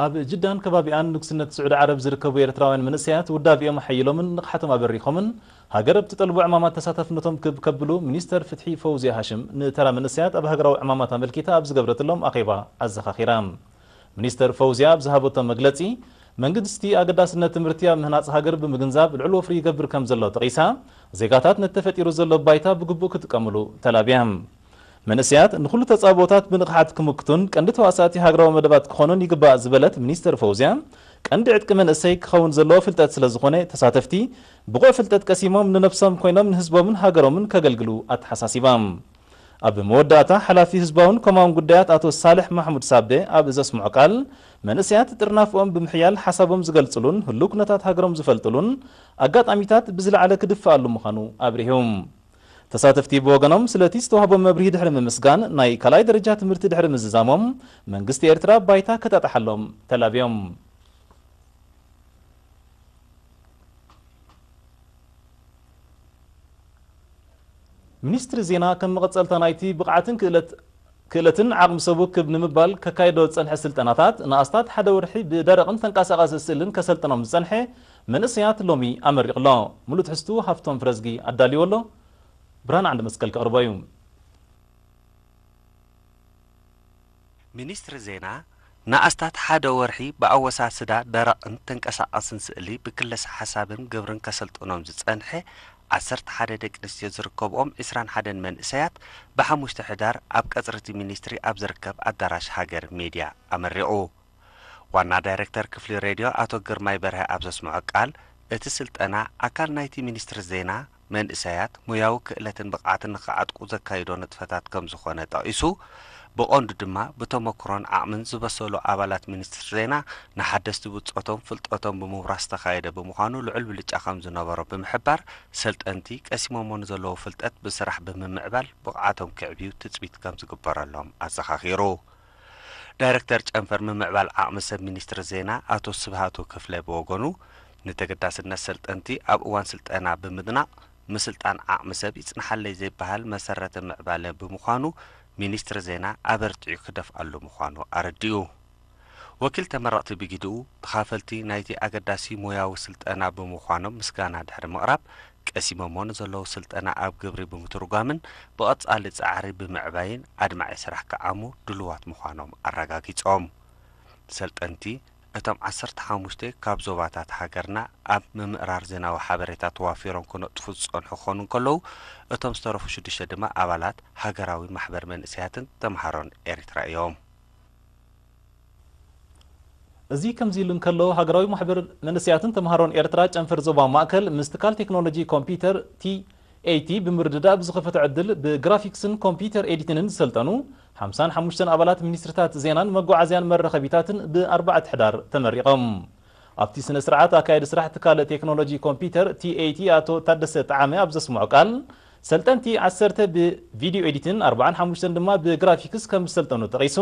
ኣብ ጅዳን ከባቢኣን ንጉስነት ስዑዲ ዓረብ ዝርከቡ ኤርትራውያን መንእሰያት ውዳቤኦም ኣሐይሎምን ንቕሓቶም ኣበሪኾምን ሃገር ኣብ ትጠልቦ ዕማማት ተሳታፍነቶም ክብ ከብሉ ሚኒስተር ፍትሒ ፈውዝያ ሃሽም ንተራ መንእሰያት ኣብ ሃገራዊ ዕማማት ኣመልኪታ ኣብ ዝገብረትሎም ኣኼባ ኣዘኻኺራ። ሚኒስተር ፈውዝያ ኣብ ዝሃበቶ መግለጺ፣ መንግስቲ ኣገዳስነት ትምህርቲ ኣብ ምህናጽ ሃገር ብምግንዛብ ልዑል ወፍሪ ይገብር ከምዘሎ ጠቒሳ፣ ዜጋታት ነቲ ተፈጢሩ ዘሎ ባይታ ብግቡእ ክጥቀምሉ ተላብያ። መንእሰያት ንኹሉ ተጻብኦታት ብንቕሓት ክምክቱን ቀንዲ ተዋሳእቲ ሃገራዊ መደባት ክኾኑን ይግባእ ዝበለት ሚኒስተር ፎውዝያ፣ ቀንዲ ዕጥቂ መንእሰይ ክኸውን ዘለዎ ፍልጠት ስለዝኾነ ተሳተፍቲ ብቑዕ ፍልጠት ቀሲሞም ንነብሶም ኮይኖም ንህዝቦምን ሃገሮምን ከገልግሉ ኣተሓሳሲባ። ኣብ መወዳእታ ሓላፊ ህዝባውን ኮማውን ጉዳያት ኣቶ ሳልሕ ማሕሙድ ሳቤ ኣብ ዘስምዖ ቃል፣ መንእሰያት ጥርናፈኦም ብምሕያል ሓሳቦም ዝገልጽሉን ህሉው ኩነታት ሃገሮም ዝፈልጥሉን ኣጋጣሚታት ብዝለዓለ ክድፈኣሉ ምዃኑ ኣብሪሁ። ተሳተፍቲ ብወገኖም ስለቲ ዝተዋህቦም መብርሂ ድሕሪ ምምስጋን ናይ ካልኣይ ደረጃ ትምህርቲ ድሕሪ ምዝዛሞም መንግስቲ ኤርትራ ባይታ ከጣጥሓሎም ተላብዮም። ሚኒስትሪ ዜና ከም መቐጸልታ ናይቲ ብቕዓትን ክእለት። ክእለትን ዓቕሚ ሰቡ ክብ ንምባል ከካይዶ ዝጸንሐ ስልጠናታት፣ ንኣስታት ሓደ ወርሒ ብደረቕን ተንቀሳቓሲ ስእልን ከሰልጥኖም ዝጸንሐ መንእሰያት ሎሚ ኣመሪቑ ኣሎ። ምሉእ ትሕዝትኡ ሃፍቶም ፍረዝጊ ኣዳልይዎ ኣሎ። ብርሃነ ዓንደመስቀል ከቕርቦ እዩ። ሚኒስትሪ ዜና ንኣስታት ሓደ ወርሒ ብኣወሳስዳ ደረቕን ተንቀሳቓስን ስእሊ ብክለሳ ሓሳብን ግብርን ከሰልጥኖም ዝጸንሐ ዓሰርተ ሓደ ደቂ ኣንስትዮ ዝርከብኦም ዕስራን ሓደን መንእሰያት ብሓሙሽተ ሕዳር ኣብ ቀጽሪ'ቲ ሚኒስትሪ ኣብ ዝርከብ ኣዳራሽ ሃገር ሜድያ ኣመሪቑ። ዋና ዳይረክተር ክፍሊ ሬድዮ ኣቶ ግርማይ በርሀ ኣብ ዘስምዖ ቃል እቲ ስልጠና ኣካል ናይቲ ሚኒስትሪ ዜና መንእሰያት ሞያዊ ክእለትን ብቕዓትን ንኽዓጥቁ ዘካይዶ ንጥፈታት ከምዝኾነ ጠቒሱ፣ ብቐንዱ ድማ ብተሞክሮን ዓቕምን ዝበሰሉ ኣባላት ሚኒስትሪ ዜና ንሓደስቲ ብጾቶም ፍልጠቶም ብምውራስ ዝተኻየደ ብምዃኑ ልዑል ብልጫ ከምዝነበሮ ብምሕባር፣ ሰልጠንቲ ቀሲሞሞ ንዘለዉ ፍልጠት ብስራሕ ብምምዕባል ብቕዓቶም ከዕብዩ ትጽቢት ከምዝግበረሎም ኣዘኻኺሩ። ዳይረክተር ጨንፈር ምምዕባል ዓቕሚ ሰብ ሚኒስትሪ ዜና ኣቶ ስብሃቱ ክፍለ ብወገኑ፣ ንተገዳስነት ሰልጠንቲ ኣብ እዋን ስልጠና ብምድናቕ፣ ምስልጣን ዓቕሚ ሰብ ይጽንሓለይ ዘይበሃል መሰረተ ምዕባለ ብምዃኑ ሚኒስትሪ ዜና ኣበርቲዑ ክደፍኣሉ ምዃኑ ኣረዲኡ። ወኪል ተመረቕቲ ብጊድኡ፣ ተኻፈልቲ ናይቲ ኣገዳሲ ሞያዊ ስልጠና ብምዃኖም ምስጋና ድሕሪ ምቕራብ፣ ቀሲሞሞ ንዘለዉ ስልጠና ኣብ ግብሪ ብምትርጓምን ብቐፃሊ ፃዕሪ ብምዕባይን ኣድማዒ ስራሕ ክዓሙ ድሉዋት ምዃኖም ኣረጋጊፆም። ሰልጠንቲ እቶም ዓሰርተ ሓሙሽተ ካብ ዞባታት ሃገርና ኣብ ምምእራር ዜናዊ ሓበሬታ ተዋፊሮም ክነጥፉ ዝፀንሑ ክኾኑ እንከለዉ እቶም ዝተረፉ ሽዱሽተ ድማ ኣባላት ሃገራዊ ማሕበር መንእሰያትን ተምሃሮን ኤሪትራ እዮም። እዚ ከምዚ ኢሉ እንከሎ፣ ሃገራዊ ማሕበር መንእሰያትን ተመሃሮን ኤርትራ ጨንፈር ዞባ ማእከል ምስ ትካል ቴክኖሎጂ ኮምፒዩተር፣ TAT፣ ብምርድዳእ ብዝኸፈቶ ዕድል ብግራፊክስን ኮምፒዩተር ኤዲትንን ዝሰልጠኑ ሓምሳን ሓሙሽተን ኣባላት ሚኒስትሪታት ዜናን መጓዓዝያን መራኸቢታትን ብ ኣርባዕተ ሕዳር ተመሪቖም። ኣብቲ ስነ-ስርዓት ኣካያዲ ስራሕ ትካል ቴክኖሎጂ ኮምፒዩተር፣ TAT፣ ኣቶ ታደሰ ጠዓመ ኣብ ዘስምዖ ቃል፣ ሰልጠንቲ ዓሰርተ ብቪድዮ ኤዲትን ኣርብዓን ሓሙሽተን ድማ ብግራፊክስ ከም ዝሰልጠኑ ጠቒሱ፣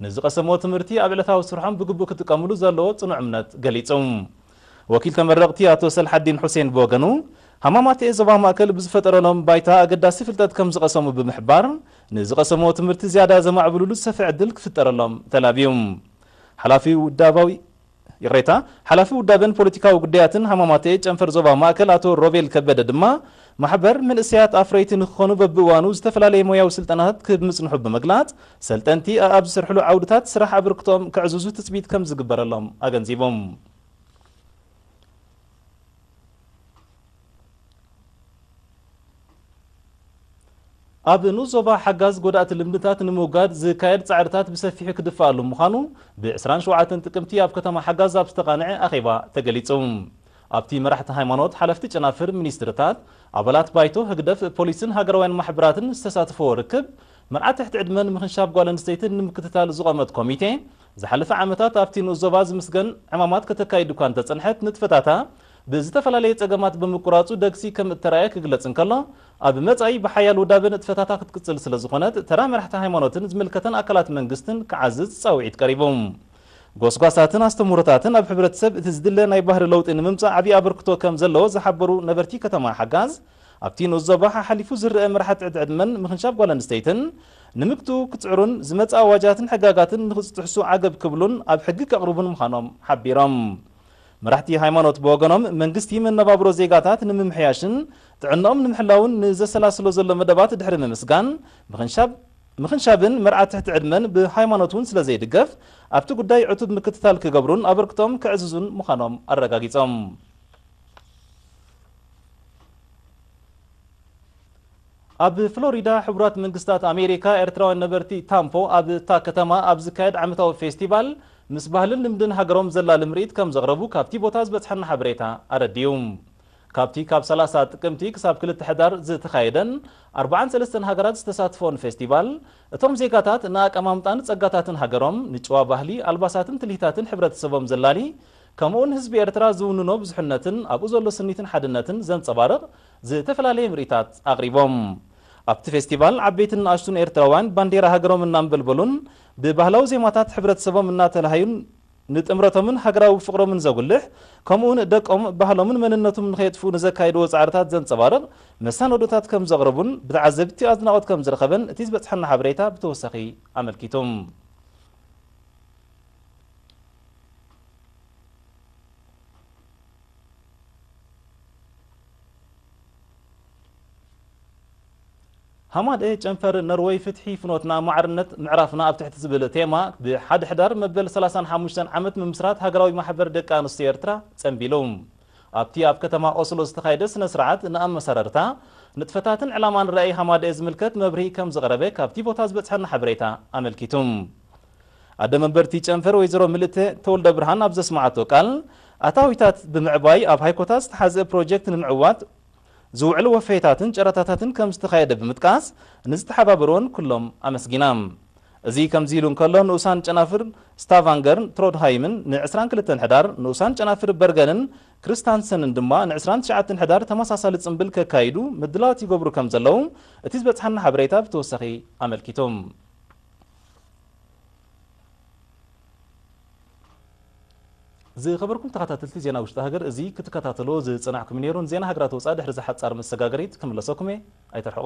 ንዝቐሰምዎ ትምህርቲ ኣብ ዕለታዊ ስርሖም ብግቡእ ክጥቀምሉ ዘለዎ ጽኑዕ እምነት ገሊጹ። ወኪል ተመረቕቲ ኣቶ ሰልሓዲን ሑሴን ብወገኑ፣ ሃማማተኤ ዞባ ማእከል ብዝፈጠረሎም ባይታ ኣገዳሲ ፍልጠት ከም ዝቐሰሙ ብምሕባር፣ ንዝቐሰምዎ ትምህርቲ ዝያዳ ዘማዕብሉሉ ዝሰፍሐ ዕድል ክፍጠረሎም ተላብዩ። ሓላፊ ውዳባዊ ይቕሬታ፣ ሓላፊ ውዳበን ፖለቲካዊ ጉዳያትን ሃማማተኤ ጨንፈር ዞባ ማእከል ኣቶ ሮቤል ከበደ ድማ፣ ማሕበር መንእሰያት ኣፍረይቲ ንክኾኑ በብእዋኑ ዝተፈላለየ ሞያዊ ስልጠናታት ክህብ ምጽንሑ ብምግላጽ፣ ሰልጠንቲ ኣኣብ ዝሰርሕሉ ዓውድታት ስራሕ ኣበርክቶኦም ከዕዝዙ ትጽቢት ከምዝግበረሎም ኣገንዚቦም። ኣብ ንኡስ ዞባ ሓጋዝ ጎዳእቲ ልምድታት ንምውጋድ ዝካየድ ጻዕርታት ብሰፊሑ ክድፋኣሉ ምዃኑ ብ ዕስራን ሸውዓተን ጥቅምቲ ኣብ ከተማ ሓጋዝ ኣብ ዝተቓንዐ ኣኼባ ተገሊጹ። ኣብቲ መራሕቲ ሃይማኖት፣ ሓለፍቲ ጨናፍር፣ ሚኒስትርታት፣ ኣባላት ባይቶ ህግደፍ፣ ፖሊስን ሃገራውያን ማሕበራትን ዝተሳተፍዎ ርክብ መርዓ ትሕቲ ዕድመን ምኽንሻብ ጓል ኣንስተይትን ንምክትታል ዝቖመት ኮሚቴ ዝሓለፈ ዓመታት ኣብቲ ንኡስ ዞባ ዝምስገን ዕማማት ከተካይድ እኳ እንተጸንሐት ንጥፈታታ ብዝተፈላለየ ጸገማት ብምቁራጹ ደግሲ ከም እተራእየ ክግለጽ እንከሎ፣ ኣብ መጻኢ ብሓያል ውዳበ ንጥፈታታ ክትቅጽል ስለ ዝኾነት፣ ተራ መራሕቲ ሃይማኖትን ዝምልከተን ኣካላት መንግስትን ክዓዝዝ ጻውዒት ቀሪቡ። ጎስጓሳትን ኣስተምህሮታትን ኣብ ሕብረተሰብ እቲ ዝድለ ናይ ባህሪ ለውጢ ንምምጻእ ዓቢ ኣበርክቶ ከም ዘለዎ ዝሓበሩ ነበርቲ ከተማ ሓጋዝ፣ ኣብቲ ንኡስ ዞባ ሓሓሊፉ ዝረኣ ምርሓት ትሕቲ ዕድመን ምኽንሻብ ጓል ኣንስተይትን ንምግትኡ ክጽዕሩን ዝመጽእ ኣዋጃትን ሕጋጋትን ንኽጽጥሕሱ ዓገብ ክብሉን ኣብ ሕጊ ከቕርቡን ምዃኖም ሓቢሮም። መራሕቲ ሃይማኖት ብወገኖም፣ መንግስቲ መነባብሮ ዜጋታት ንምምሕያሽን ጥዕንኦም ንምሕላውን ንዘሰላስሎ ዘሎ መደባት ድሕሪ ምምስጋን፣ ምኽንሻብ ምኽንሻብን መርዓ ትሕቲ ዕድመን ብሃይማኖት እውን ስለዘይድገፍ፣ ኣብቲ ጉዳይ ዕቱብ ምክትታል ክገብሩን ኣበርክቶኦም ከዕዝዙን ምዃኖም ኣረጋጊፆም። ኣብ ፍሎሪዳ ሕቡራት መንግስታት ኣሜሪካ ኤርትራውያን ነበርቲ ታምፖ ኣብ እታ ከተማ ኣብ ዝካየድ ዓመታዊ ፌስቲቫል ምስ ባህልን ልምድን ሃገሮም ዘላሊ ምርኢት ከም ዘቕረቡ ካብቲ ቦታ ዝበጽሓና ሓበሬታ ኣረዲኡ። ካብቲ ካብ ሰላሳ ጥቅምቲ ክሳብ ክልተ ሕዳር ዝተኻየደን ኣርብዓን ሰለስተን ሃገራት ዝተሳትፈኦን ፌስቲቫል እቶም ዜጋታት ንኣቀማምጣን ጸጋታትን ሃገሮም ንጭዋ ባህሊ ኣልባሳትን ትልሂታትን ሕብረተሰቦም ዘላሊ ከምኡውን ህዝቢ ኤርትራ ዝውንኖ ብዙሕነትን ኣብኡ ዘሎ ስኒትን ሓድነትን ዘንጸባርቕ ዝተፈላለየ ምርኢታት ኣቕሪቦም። ኣብቲ ፌስቲቫል ዓበይትን ንኣሽቱን ኤርትራውያን ባንዴራ ሃገሮም እናንበልበሉን ብባህላዊ ዜማታት ሕብረተሰቦም እናተላሃዩን ንጥምረቶምን ሃገራዊ ፍቕሮምን ዘጉልሕ ከምኡ'ውን ደቆም ባህሎምን መንነቱም ንኸየጥፍኡ ንዘካይድዎ ጻዕርታት ዘንጸባርቕ መሳነዶታት ከምዘቕረቡን ብተዓዘብቲ ኣድናቖት ከምዝረኸበን እቲ ዝበጽሓና ሓበሬታ ብተወሳኺ ኣመልኪቱ። ሃማደኤ ጨንፈር ኖርወይ ፍትሒ ፍኖትና ማዕርነት ምዕራፍና ኣብ ትሕቲ ዝብል ቴማ ብ ሓደ ሕዳር መበል ሰላሳን ሓሙሽተን ዓመት ምምስራት ሃገራዊ ማሕበር ደቂ ኣንስትዮ ኤርትራ ጸንቢሉ። ኣብቲ ኣብ ከተማ ኦስሎ ዝተኻየደ ስነ ስርዓት ንኣመሰራርታ፣ ንጥፈታትን ዕላማን ራኢ ሃማደኤ ዝምልከት መብርሂ ከም ዝቐረበ ካብቲ ቦታ ዝበጽሐና ሓበሬታ ኣመልኪቱ። ኣደ መንበር እቲ ጨንፈር ወይዘሮ ምልእተ ተወልደብርሃን ኣብ ዘስመዓቶ ቃል፣ ኣታዊታት ብምዕባይ ኣብ ሃይኮታት ዝተሓዝእ ፕሮጀክት ንምዕዋት ዝውዕል ወፈየታትን ጨረታታትን ከምዝተኻየደ ብምጥቃስ ንዝተሓባበርወን ኩሎም ኣመስጊና። እዚ ከምዚ ኢሉ እንከሎ ንኡሳን ጨናፍር ስታቫንገርን ትሮድሃይምን ን ዕስራን ክልተን ሕዳር፣ ንኡሳን ጨናፍር በርገንን ክሪስታንሰንን ድማ ን ዕስራን ትሽዓተን ሕዳር ተመሳሳሊ ጽምብል ከካይዱ ምድላዋት ይገብሩ ከምዘለዉ እቲ ዝበጽሓና ሓበሬታ ብተወሳኺ ኣመልኪቱ። ዝኸበርኩም ተኸታተልቲ ዜና ውሽጢ ሃገር እዚ ክትከታተልዎ ዝጸናሕኩም ነይሩ። ንዜና ሃገራት ወጻኢ ድሕሪ እዚ ሓጻር መሰጋገሪት ክምለሰኩም እየ። ኣይትርሕቁ።